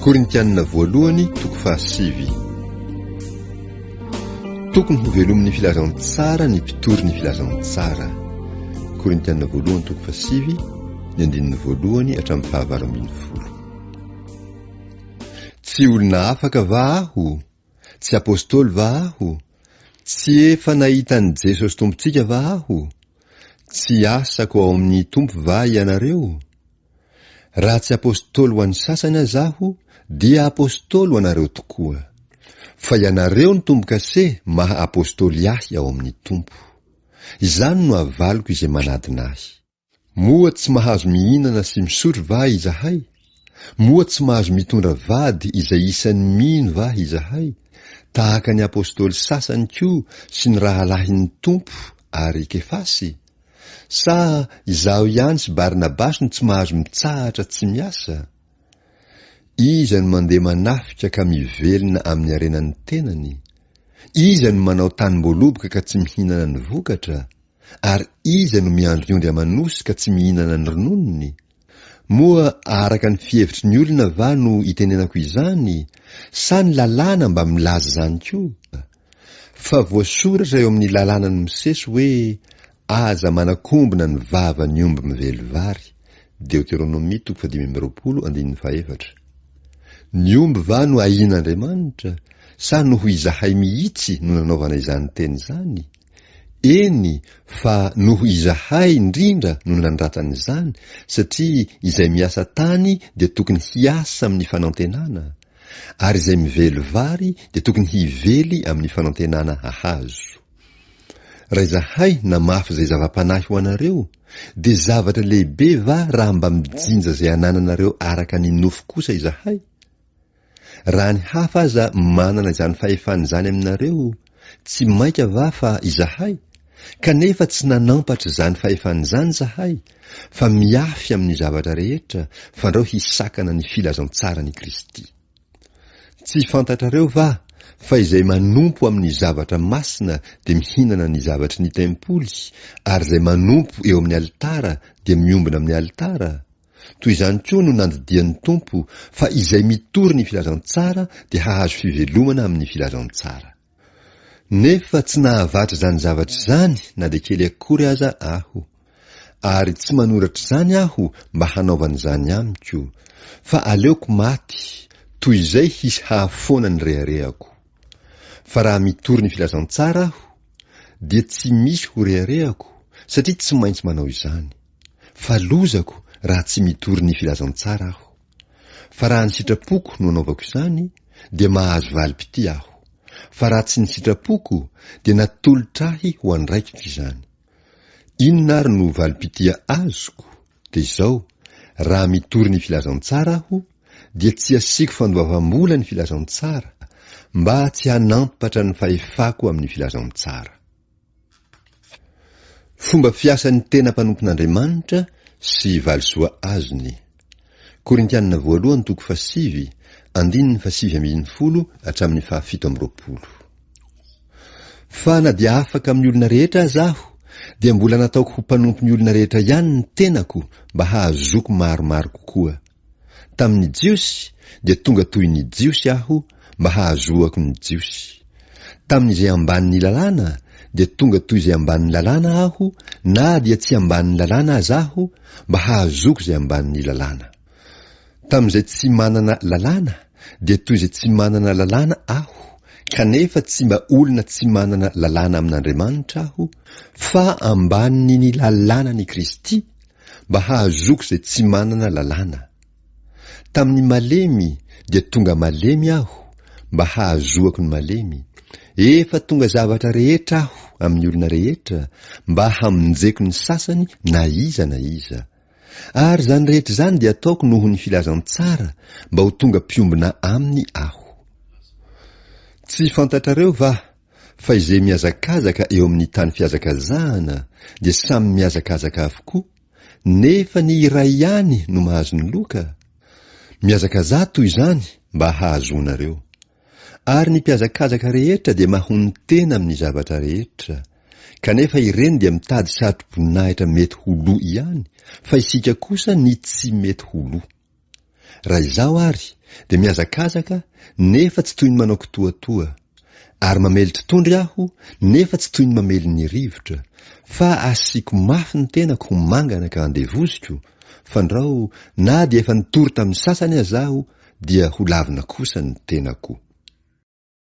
Korintianina voalohany toko fahasivy Tokony ho velomin'ny filazantsara ny mpitory ny filazantsara. Korintianina voalohany toko fahasivy ny andininy voalohany hatramin'ny fahavalo ambin'ny folo. Tsy olona afaka va aho? Tsy apostoly va aho? Tsy efa nahita an'i Jesosy Tompontsika va aho? Tsy asako ao amin'ny Tompo va ianareo? Raha tsy apostoly ho an'ny sasany aza aho, dia apostoly ho anareo tokoa. Fa ianareo no tombo-kase maha apostoly ahy ao amin'ny Tompo. Izany no avaliko izay manadina ahy. Moa tsy mahazo mihinana sy misotro va izahay? Moa tsy mahazo mitondra vady izay isan'ny mino va izahay, tahaka ny apostoly sasany koa sy ny rahalahin'ny Tompo ary Kefasy? Sa izaho ihany sy Barnabasy no tsy mahazo mitsahatra tsy miasa? Iza no mandeha manafika ka mivelona amin'ny harenan'ny tenany? Iza no manao tanim-boaloboka ka tsy mihinana ny vokatra? Ary iza no miandry ny ondry aman'osy ka tsy mihinana ny rononony? Moa araka ny fihevitry ny olona va no itenenako izany, sa ny lalàna mba milaza izany koa? Fa voasoratra eo amin'ny lalànan'i Mosesy hoe aza manakombona ny vavan'ny omby mively vary, Deoteronomia toko fahadimy amby roapolo andininy fahefatra. Ny omby va no ahian'Andriamanitra, sa noho izahay mihitsy no nanaovana izany teny izany? Eny, fa noho izahay indrindra no nandratra an'izany, satria izay miasa tany dia tokony hiasa amin'ny fanantenana, Ary izay mively vary dia tokony hively amin'ny fanantenana hahazo. Raha izahay namafy izay zava-panahy ho anareo, dia zavatra lehibe va raha mba mijinja izay anananareo araka ny nofo kosa izahay? Raha ny hafa aza manana izany fahefana izany aminareo, Tsy mainka va fa izahay, kanefa tsy nanampatra izany fahefana izany izahay, fa miafy amin'ny zavatra rehetra, fandrao hisakana ny filazantsaran'i Kristy. Tsy fantatrareo va fa izay manompo amin'ny zavatra masina dia mihinana ny zavatry ny tempoly, ary izay manompo eo amin'ny alitara dia miombona amin'ny alitara? Toy izany koa no nandidian'ny Tompo fa izay mitory ny filazantsara dia hahazo fivelomana amin'ny filazantsara. Nefa tsy nahavatra izany zavatra izany na dia kely akory aza aho. Ary tsy manoratra izany aho mba hanaovana izany amiko, fa aleoko maty toy izay hisy hahafoana ny reharehako. Fa raha mitory ny filazantsara aho, dia tsy misy ho reharehako, satria tsy maintsy manao izany. Fa lozako raha tsy mitory ny filazantsara aho. Fa raha ny sitrapoko no anaovako izany, dia mahazo valim-pitia aho. Fa raha tsy ny sitrapoko, dia natolotra ahy ho andraikitra izany. Inona ary no valim-pitia azoko? Dia izao, raha mitory ny filazantsara aho, dia tsy asiako fandoavam-bola ny filazantsara, mba tsy hanampatra ny fahefako amin'ny filazantsara. Fomba fiasan'ny tena mpanompon'Andriamanitra sy valisoa azony. Korintianina voalohany toko fahasivy, andininy fahasivy ambin'ny folo hatramin'ny fahafito amby roapolo. Fa na dia afaka amin'ny olona rehetra aza aho, dia mbola nataoko ho mpanompon'ny olona rehetra ihany ny tenako mba hahazoako maromaro kokoa Tamin'ny Jiosy, dia tonga toy ny Jiosy aho mba hahazoako ny Jiosy. Tamin'izay ambanin'ny Lalàna, dia tonga toy izay ambanin'ny Lalàna aho na dia tsy ambanin'ny Lalàna aza aho mba hahazoako izay ambanin'ny Lalàna. Tamin'izay tsy manana Lalàna, dia toy izay tsy manana Lalàna aho, kanefa tsy mba olona tsy manana Lalàna amin'Andriamanitra aho, fa ambanin'ny Lalànan'i Kristy, mba hahazoako izay tsy manana lalàna. Tamin'ny malemy dia tonga malemy aho mba hahazoako ny malemy, efa tonga zavatra rehetra aho amin'ny olona rehetra mba hamonjeko ny sasany na iza na iza. Ary izany rehetra izany dia ataoko noho ny filazantsara mba ho tonga mpiombona aminy aho. Tsy fantatrareo va? fa izay mihazakazaka eo amin'ny tany fihazakazahana dia samy mihazakazaka avokoa, nefa ny iray ihany no mahazo ny loka? Mihazakazaha toy izany mba hahazoanareo. Ary ny mpihazakazaka rehetra dia mahonon-tena amin'ny zavatra rehetra, kanefa ireny dia mitady satroboninahitra mety ho lo ihany, fa isika kosa ny tsy mety ho lo. Raha izaho ary dia mihazakazaka nefa tsy toy ny manao kitoatoa, ary mamely totondry aho nefa tsy toy ny mamely ny rivotra, fa asiako mafy ny tenako ho mangana ka andevoziko, fandrao na dia efa nitory tamin'ny sasany aza aho dia ho lavina kosa ny tenako.